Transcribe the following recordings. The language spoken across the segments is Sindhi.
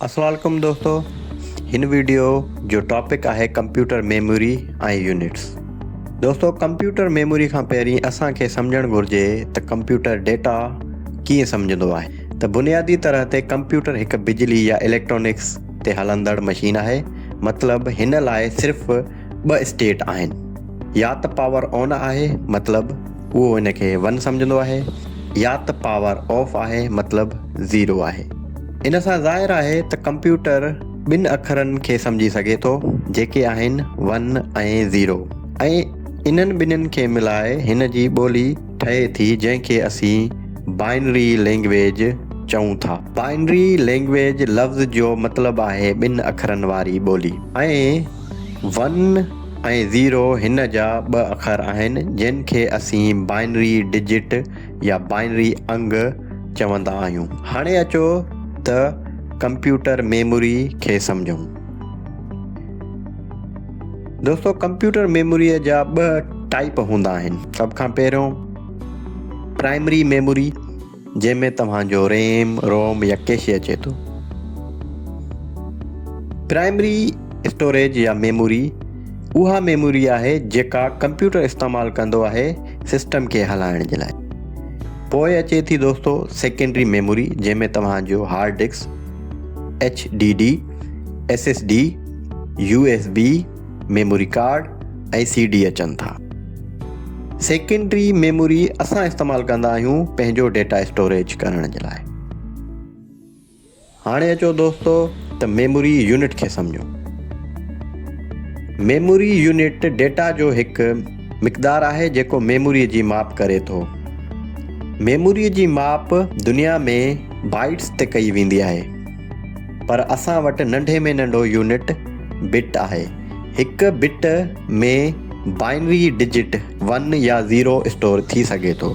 اسلام عليڪم دوستو هن ويڊيو جو ٽاپڪ آهي ڪمپيوٽر ميموري ۽ يونٽس دوستو ڪمپيوٽر ميموري کان پهرين اسان کي سمجهڻ گهرجي ته ڪمپيوٽر ڊيٽا ڪيئن سمجهندو آهي ته بنيادي طرح تي ڪمپيوٽر هڪ بجلي يا اليڪٽرانڪس تي هلندڙ مشين آهي مطلب هن لاء صرف ٻه اسٽيٽ آهن يا ته پاور آن آهي مطلب اهو ان کي ون سمجهندو آهي يا ته پاور آف آهي مطلب زيرو آهي ان سان ظاهر آهي ته ڪمپيوٽر ٻن اکرن کي سمجهي سگهي ٿو جيڪي آهن ون ۽ زيرو ۽ انهن ٻنهن کي ملائي هن جي ٻولي ٺهي ٿي جنهن کي اسين بائنري لينگويج چئون ٿا بائنري لينگويج لفظ جو مطلب آهي ٻن اکرن واري ٻولي ۽ ون ۽ زيرو هن جا ٻه اکر آهن جن کي اسين بائنري ڊجٽ يا بائنري انگ چوندا آهيون. هاڻي اچو ته ڪمپيوٽر ميموري کي سمجهون. دوستو ڪمپيوٽر ميموري جا ٻه ٽائيپ هوندا آهن سڀ کان پهريون پرائمري ميموري. جنهن ۾ توهان جو ريم، روم يا ڪيشي اچي ٿو. پرائمري اسٽوريج يا ميموري اها ميموري آهي جيڪا ڪمپيوٽر استعمال ڪندو آهي سسٽم کي هلائڻ جي لاء. پوء اچي ٿي دوستو سيڪنڊري ميموري جنهن ۾ توهان جو hard disk, H D D, S S D, U S B, memory card ۽ C D اچن ٿا. سيڪنڊري ميموري اسان استعمال ڪندا آهيون پنهنجو ڊيٽا اسٽوريج ڪرڻ جي لاء. هاڻي اچو دوستو ته ميموري يونٽ کي سمجهون. ميموري يونٽ ڊيٽا جو هڪ مقدار آهي جيڪو ميموري جي ماپ ڪري ٿو. ميموري جي ماپ دنيا ۾ بائيٽس تي ڪئي ويندي آهي. پر اسان وٽ ننڍي ۾ ننڍو يونٽ بٽ آهي. هڪ بٽ ۾ بائنري ڊجٽ ون يا زيرو اسٽور ٿي سگهي ٿو.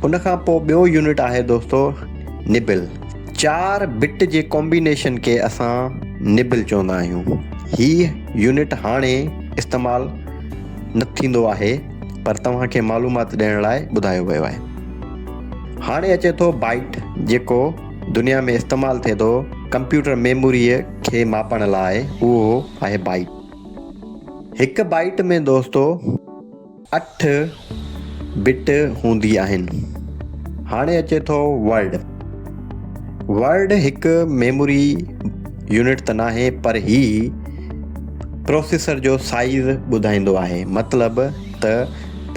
ان کان پوء ٻيو يونٽ آهي دوستو نبل. چار بٽ جي ڪامبينيشن کي اسان نبل چوندا آهيون. هي يونٽ هاڻي استعمال نه ٿيندو آهي پر توهان کي معلومات ڏيڻ لاء ٻڌايو ويو آهي. هاڻي اچي ٿو بائيٽ جيڪو دنيا ۾ استعمال ٿئي ٿو ڪمپيوٽر ميموريء کي ماپڻ لاء اهو آهي بائيٽ. هڪ بائيٽ ۾ دوستو اٺ بٽ هوندي آهن. هاڻي اچي ٿو ورڊ. ورڊ هڪ ميموري يونٽ ته ناهي پر هي پروسيسر جو سائيز ٻڌائيندو آهي مطلب ته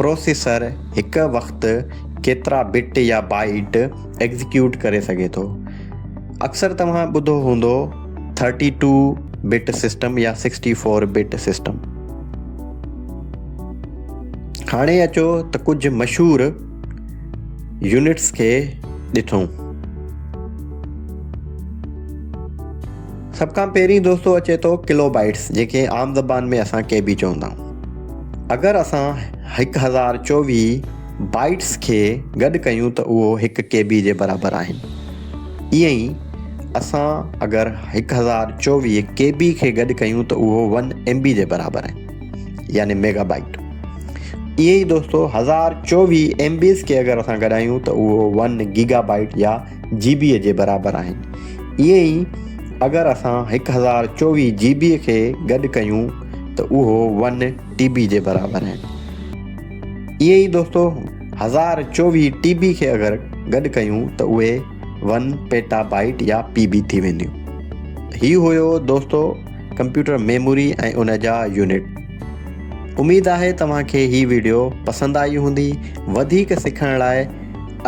پروسيسر هڪ وقت ڪيترا بٽ يا بائيٽ ايگزيڪيوٽ ڪري سگهي ٿو اڪثر توهان ٻڌو هوندو ٿرٽي ٽو بٽ سسٽم يا سڪسٽي فور بٽ سسٽم هاڻي اچو ته ڪجهه مشهور يونٽس کي ڏسون سڀ کان پهرين دوستو اچي ٿو ڪلو بائيٽس جيڪي عام زبان ۾ اسان ڪي بي چوندا آهيون اگر اسان هڪ هزار چوويهه بائيٽس کي گڏ ڪيون ته اهو هڪ ڪي بي جي برابر آهن. ائين ئي اسان اگر هڪ هزار چوويهه ڪي بي کي گڏ ڪيون ته اهو ون ايم بي جي برابر آهن يعني ميگا بائيٽ. ائين ئي دوستو هزار چوويهه ايم بيز کي اگر اسان گڏايون ته اهو ون گيگا بائيٽ يا جي بي جي برابر آهن. ائين ئي اگر اسان هڪ هزار چوويهه جي بي کي گڏ ڪيون ته اهو ون ٽي بي جي برابر آهن. اهي ئي دوستو هزار چوويهه ٽي بي کي اگر گڏ ڪيون ته اهي ون پيٽا بائيٽ يا پي بي ٿي وينديون. هي هيو دوستو ڪمپيوٽر ميموري ۽ ان جا يونٽ. اميد آهي توهان کي هي ويڊيو پسند آئي هوندي. وڌيڪ سکڻ لاء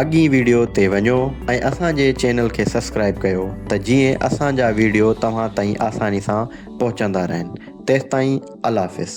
اڳين ويڊيو تي وڃو ۽ اسان جي چينل کي سبسڪرائب ڪيو ته جيئن اسان جا ويڊيو توهان تائين آساني سان پهچندا رهن. تيستائين الله حافظ.